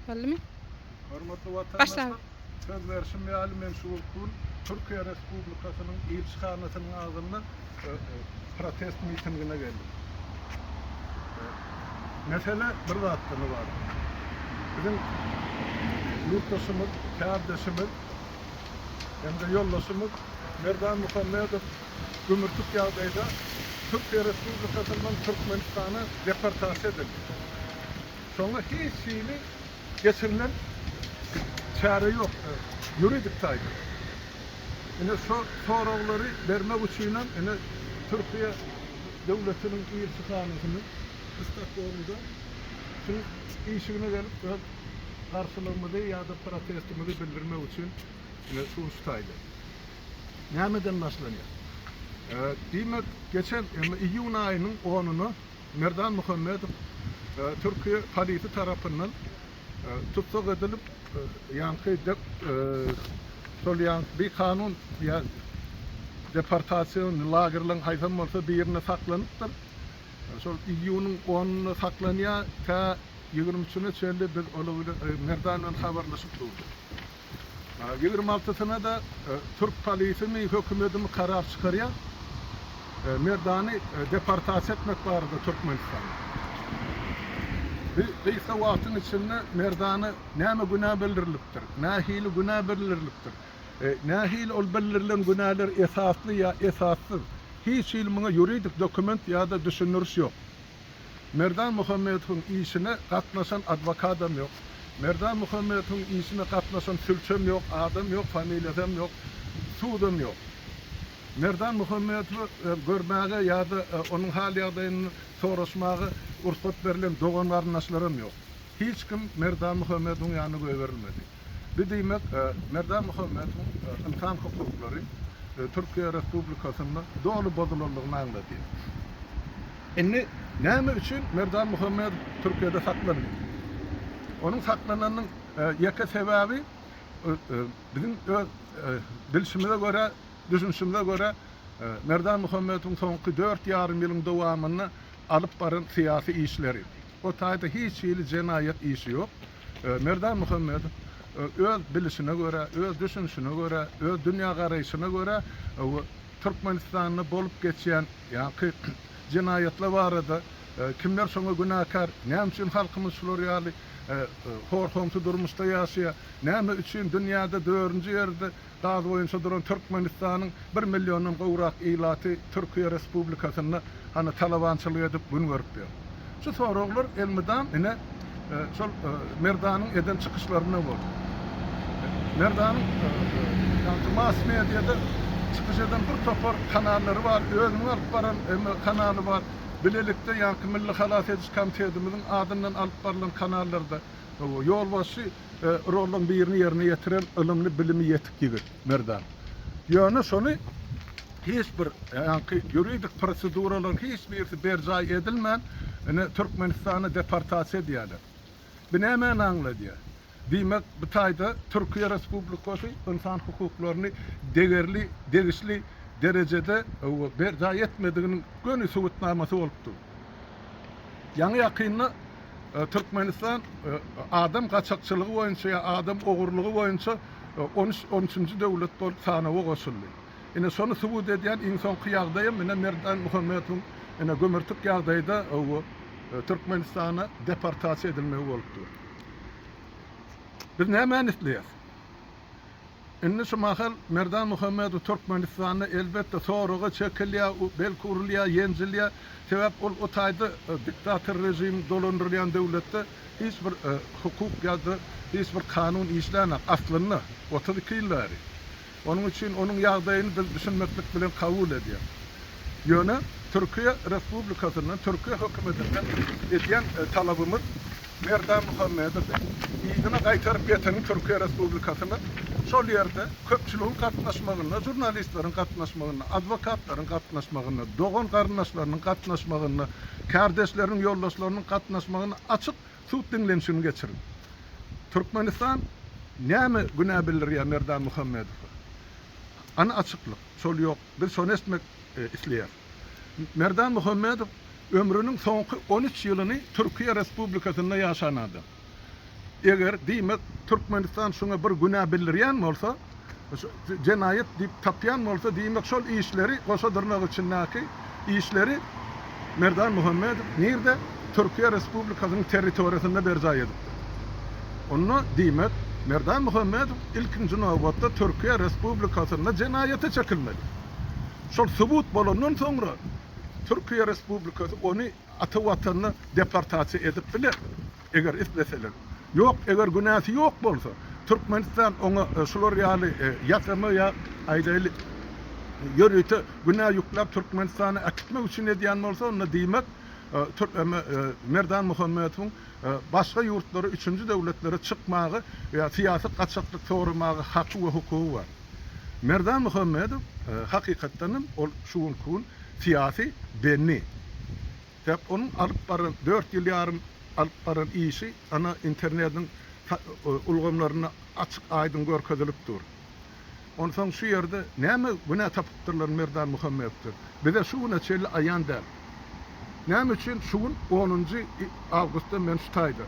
Boldumy? Hormatly watandaşlar, söz berşim ýaly, men şu wagt bu gün Türkiýe Respublikasynyň Ilçihanasynyň agzynda protest mitingine geldim. Mesele bir zatdan ybarat. Biziň ýurtdaşymyz, kärdeşimiz hem-de ýoldaşymyz Merdan Muhammedow gümürtik ýagdaýda Türkiýe Respublikasyndan Türkmenistana deportasiýa edildi. Şonda hiç hili geçirilen çäre ýokdy ýuridik taýdan. Ine şo soraglary bermek üçinem ine Türkiýe döwletiniň ilçihanasynyň Stokgolmda şunuň işigine gelip öz garşylygymyzy ýa-da protestimizi bildirmek üçin ine şu uruş taýly. Nämeden başlanýar? Diýmek geçen emma iýun aýynyň onyna, Merdan Muhammedow türki polisi tarapyndan tussag edilip, ýaňky dep şol ýaňky bikanun ýa deportasion lagerleriň haýsam bolsa birinde saklanypdyr. Şol iýunyň onunda saklanýar, tä ýigrimi üçüne çenli biz ola bilen Merdan bilen habarlaşyp durdyk. Ýigrimi altysyna-da türk polisimi, hökümedimi karar çykarýar, Merdany deportasiýa etmek barada Türkmenistana. Bu gysga wagtyň içinde Merdana näme günä bildirilipdir, nähili günä bildirilipdir, nähili ol bildirilen günäler esasly ýa esassyz, hiç hili muňa ýuridik dokument ýa-da düşündiriş ýok. Merdan Muhammedowyň işine gatnaşan adwokadam ýok. Merdan Muhammedowyň işine gatnaşan sülçem ýok, adam ýok, familiýasam ýok, sudam ýok. Merdan Muhammedowy görmäge ýa-da onuň hal-ýagdaýyny soraşmaga ursat berlen dogan-garyndaşlaram ýok. Hiç kim Merdan Muhammedowyň ýanyna goýberilmedi. Bi diýmek, Merdan Muhammedowyň ynsan hukuklary Türkiýe Respublikasynda doly bozulandygyny aňladýar. Indi näme üçin Merdan Muhammedow Türkiýede saklanýar? Onuň saklananynyň ýeke sebäbi biziň öz bilşimize görä, düşünişimize görä, Merdan Muhammedowyň soňky dört ýarym ýylyň dowamynda alyp baran syýasy işleri. O taýda hiç hili jenaýat işi ýok. Merdan Muhammedow öz bilişine görä, öz düşünişine görä, öz dünýägaraýşyna görä Türkmenistanda bolup geçýän ýaňky jenaýatlar barada, kimler şoňa günäkär, näme üçin halkymyz şular ýaly hor-homsy durmuşda ýaşaýar, näme üçin dünýäde dördünji ýerde Gaz boýunça duran Türkmenistanyň bir milliondan gowrak ilaty Türkiýe Respublikasynda hany talabançylyk edip gün görüp ýör? Şu soraglar elmydam ine şol Merdanyň eden çykyşlarynda boldy. Merdanyň ýagty mass mediada çykyş eden bir topar kanallary bar, özüniň alyp baran emmi kanaly bar, bilelikde ýagty Milli halas ediş komitetimiziň adyndan alyp barylan kanallarda ýolbaşçy rollaň birini ýerine ýetiren ylymly, bilimi ýetik ýigit Merdan. Ýöne şony hiç bir ýaňky ýuridik proseduralaryň hiç birisi berjaý edilmän, ine, Türkmenistana deportasiýa edýärler. Bu nämäni aňladýar? Diýmek, bu taýda Türkiýe Respublikasy ynsan hukuklaryny degerli, degişli derejede berjaý etmediginiň göni subutnamasy bolup dur. Ýaňy-ýakynda. Türkmenistan adam gaçakçylygy boýunça ýa adam ogurlygy boýunça on üç on üçünji döwlet bolup sanawa goşuldy. Ine şony subut edýän iň soňky ýagdaýam ine Merdan Muhammedowyň ine gümürtik ýagdaýda bu Türkmenistana deportasiýa edilmegi bolup dur. Biz nämäni isleýäs? Indi şu mahal Merdan Muhammedow Türkmenistanda elbetde soraga çekilýär, belki urulýar, ýenjilýär. Sebäp ol o taýda diktator režimiň dolandyrylýan döwletde hiç bir hukuk ýa-da hiç bir kanun işlänok aslynda otuz iki ýyl bäri. Onuň üçin onuň ýagdaýyny biz düşünmeklik bilen kabul edýär. Ýöne Türkiýe Respublikasyndan, Türkiýe hökümetinden edýän talabymyz, Berdimuhamedowy yzyna gaýtaryp getiren Türkiýe Respublikasyna şol ýerde köpçüligiň gatnaşmagynda, žurnalistleriň gatnaşmagynda, adwokatlaryň gatnaşmagynda, dogan-garyndaşlarynyň gatnaşmagynda, kärdeşleriniň, ýoldaşlarynyň gatnaşmagynda açyk sud diňlenişigini geçirdi. Türkmenistan näme günä bildirýär Merdan Muhamedowa? Ana açyklyk, şol ýok. Biz şony eşitmek isleýäris. Merdan Muhammedow ömrüniň soňky on üç ýylyny Türkiýe Respublikasynda ýaşan adam. Eger, diýmek, Türkmenistan şuňa bir günä bildirýän bolsa, jenaýat diýip tapýan bolsa, diýmek, şol işleri, goşa dyrnak içindäki işleri Merdan Muhammedow nirde, Türkiýe Respublikasynyň territoriýasynda berjaý edipdir. Onda, diýmek, Merdan Muhammedow ilkinji nobatda Türkiýe Respublikasynda jenaýata çekilmeli. Şol subut bolandan soňra Türkiýe Respublikasy ony ata watanyna deportasiýa edip biler, eger isleseler. Ýok, eger günäsi ýok bolsa, Türkmenistan oňa şular ýaly ýasama ýa, aýdaýlyk, ýörite günä ýükläp Türkmenistana äkitmek üçin edýän bolsa, onda diýmek, Merdan Muhammedowyň başga ýurtlara, üçünji döwletlere çykmaga ýa syýasy gaçaklyk soramaga haky we hukugy bar. Merdan Muhammedow hakykatdan hem ol şu günki gün syýasy bendi. Sebäp onuň alyp baran dört ýyl ýarym alyp baran işi ana internediň ulgamlarynda açyk aýdyň görkezilip dur. Onsoň şu ýerde näme günä tapypdyrlar Merdan Muhammedowdan bize şu güne çenli aýan däl. Näme üçin şu gün onunjy awgustda men şu taýda?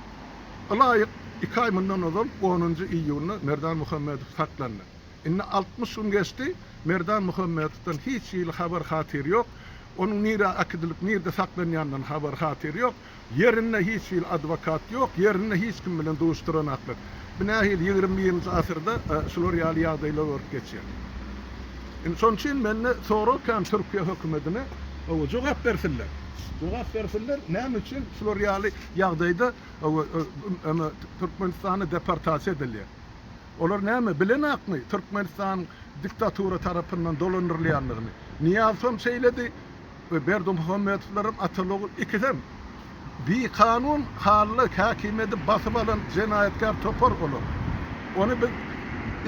Ylaýyk iki aý mundan ozal onunjy iýunda Merdan Muhammedow saklandy. Indi altmyş gün geçdi, Merdan Muhammedowdan hiç hili habar-hatyr ýok. Onuň nirä äkidilip, nirde saklanýandan habar-hatyr ýok. Ýerinde hiç hili adwokat ýok, ýerinde hiç kim bilen duşduranaklyk. Bu nähili ýigrimi birinji asyrda şular ýaly ýagdaýlar bolup geçýär. Indi şonuň üçin mende sorag kän Türkiýe hökümetine owo jogap bersinler. Jogap bersinler näme üçin şular ýaly ýagdaýda owo öme Türkmenistana deportasiýa edilýär. Olar näme bilenakmy Türkmenistan diktatura tarapyndan dolandyrylýandygyny. Niýazow hem şeýledi. we Berdimuhamedowlaram ataly-ogul ikisem bikanun Hally Häkimedi basyp alan jenaýatkär topar olar. Ony biz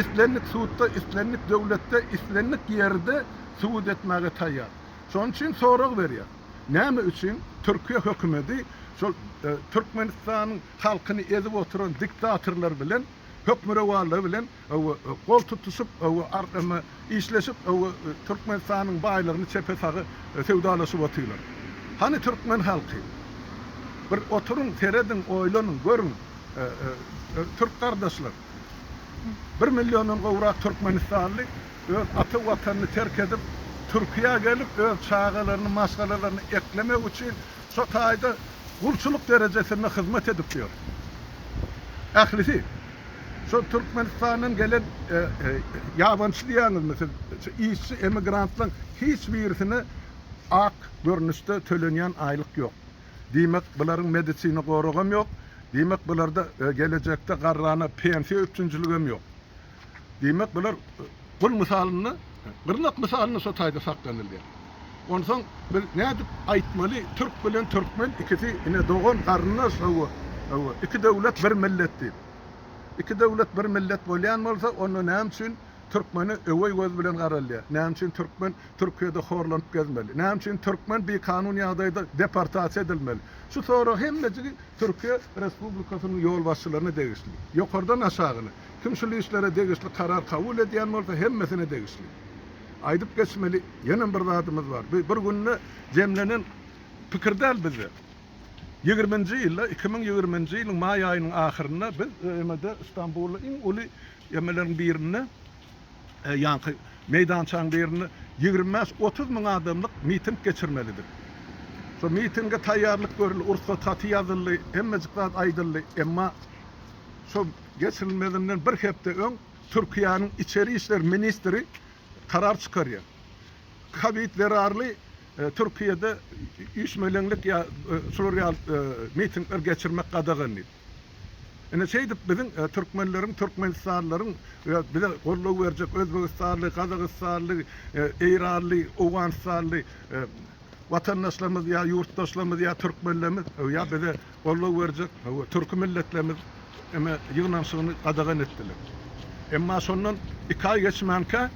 islendik sudda, islendik döwletde, islendik ýerde subut etmäge taýýar. Şonuň üçin sorag berýän, näme üçin Türkiýe hökümedi şol Türkmenistanyň halkyny ezip oturan diktatorlar bilen, hökmürowanlar bilen gol tutuşyp, işleşip, Türkmenistanyň baýlygyny çepe-saga söwdalaşyp otyrlar. Hany türkmen halky? Bir oturyň, serediň, oýlanyň, görüň, türk gardaşlar! Bir milliondan gowrak türkmenistanly öz ata Watanyny terk edip, Türkiýä gelip, öz çagalaryny, maşgalalaryny eklemek üçin şo taýda gulçulyk derejesinde hyzmat edip ýör. Ählisi. Şo Türkmenistandan gelen ýabançy diýýäňizmi siz? Şu işçi emigrantlaň hiç birisine ak görnüşde tölenýän aýlyk ýok. Diýmek, bularyň medisina goragam ýok. Diýmek, bularda gelejekde garrana pensiýa üpjünçiligem ýok. Diýmek, bular Gül mysalynda, gyrnak mysalynda şo taýda saklanylýar. Onsoň biz nädip aýtmaly, türk bilen türkmen ikisi ine dogan, garyndaş, hawa, hawa, iki döwlet bir millet diýip. Iki döwlet bir millet bolýan bolsa, onda näme üçin türkmene öweý göz bilen garalýar? Näme üçin türkmen Türkiýede horlanyp gezmeli? Näme üçin türkmen bikanun ýagdaýda deportasiýa edilmeli? Şu sorag hemmejigi Türkiýe Respublikasynyň ýolbaşçylaryna degişli. Ýokardan aşagyna. Kim şul işlere degişli karar kabul edýän bolsa hemmesine degişli. Aýdyp geçmeli ýenem bir zadymyz bar. Bu bir günde jemlenen pikir däl bizde. Ýigirminji ýylda, iki müň ýigirminji ýylyň maý aýynyň ahyrynda biz ÖM-de Stambulda iň uly emeleriň birinde ýaňky meýdançaň birinde ýigrimi bäş, otuz müň adamlyk miting geçirmelidik. Şo mitinge taýýarlyk görüldi, ursat haty ýazyldy, hemmejik zat aýdyldy, emma şo Geçirilmezinden bir hepde öň Türkiýäniň içeri işler ministri karar çykarýar. Kowid zerarly Türkiýede üýşmeleňlik ýa şular ýaly mitingler geçirmek gadagan diýip. Ine şeýdip biziň türkmenleriň, türkmenistanlylaryň we bize goldaw berjek özbegistanly, gazagystanly, eýranly, owganystanly, watandaşlarymyz ýa ýurtdaşlarymyz ýa türkmenlerimiz ýa bize goldaw berjek türki milletlerimiz eme ýygnanyşygyny gadagan etdiler. Emma şondan iki aý geçmänkä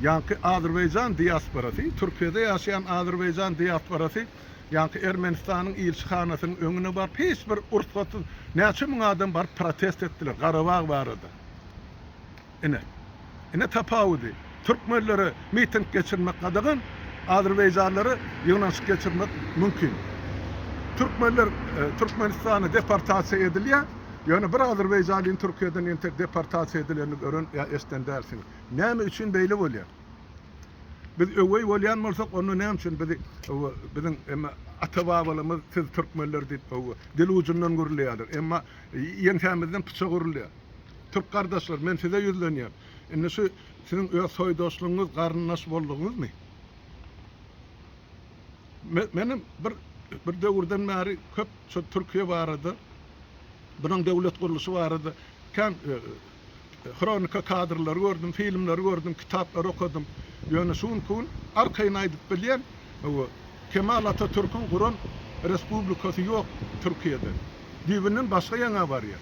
ýaňky azerbaýjan diasporasy, Türkiýede ýaşaýan azerbaýjan diasporasy ýaňky Ermenistanyň ilçihanasynyň öňüne baryp hiç bir ursgatsyz näçe müň adam baryp protest etdiler Garabag barada. Ine. Ine tapawudy. Türkmenlere miting geçirmek gadagan, azerbaýjanlara ýygnanyşyk geçirmek mümkin. Türkmenler Türkmenistana deportasiýa edilýär, ýöne bir azerbaýjanlyň Türkiýeden entek deportasiýa edilenini gören ýa eşiden dälsiňiz. Näme üçin beýle bolýar? Biz öweý bolýan bolsak, onda näme üçin bizi biziň emma ata-babalarymyz siz türkmenler diýip dil ujundan gürleýärler, emma ýeňsämizden pyçak urilýar. Türk gardaşlar, men size ýüzlenýän. Indi şu siziň öz soýdaşlygyňyz, garyndaş boldugyňyzmy? Men, menem bir, bir döwürden bäri köp şu Türkiýe barada, bunuň döwlet gurluşy barada kän hronika kadrlary gördüm, filmleri gördüm, kitaplary okadym. Ýöne şu günki gün arkaýyn aýdyp bilýän, bu Kemal Atatürküň guran respublikasy ýok Türkiýede. Düýbünden başga ýaňa barýar.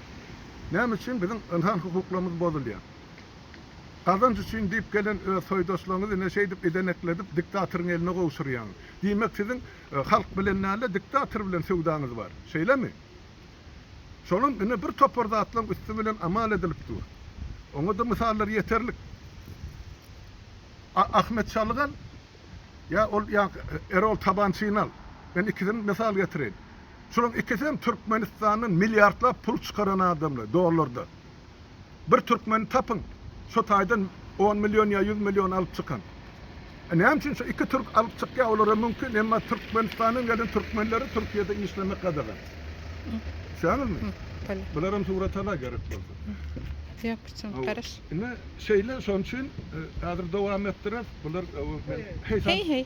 Näme üçin biziň ynsan hukuklarymyz bozulýar? Gazanç üçin diýip gelen öz soýdaşlaryňyzy ine şeýdip idenekledip diktatoryň eline gowşurýaňyz. Diýmek siziň halk bilen däl-de diktator bilen söwdaňyz bar. Şeýlemi? Şolam ine bir topar zatlaryň üsti bilen amal edilip dur. Oňa-da mysallar ýeterlik. A Ahmet Çalgan. Ýa ol ýa Erol Tabançyny al. Men ikisini mysal getireýin. Şolaryň ikisi hem Türkmenistandan milliardlap pul çykaran adamlar, dollarda. Bir türkmeni tapyň, şo taýdan on million ýa ýüz million alyp çykan. E näme üçin şo iki türk alyp çykýar, olara mümkin, emma Türkmenistandan gelen türkmenlere Türkiýede işlemek gadagan. Düşýäňizmi? Bular hem suratala gerek bolsa. Ýok, üçin garaş. Indi şeýle şoň üçin häzir dowam etdirip bular men heý heý.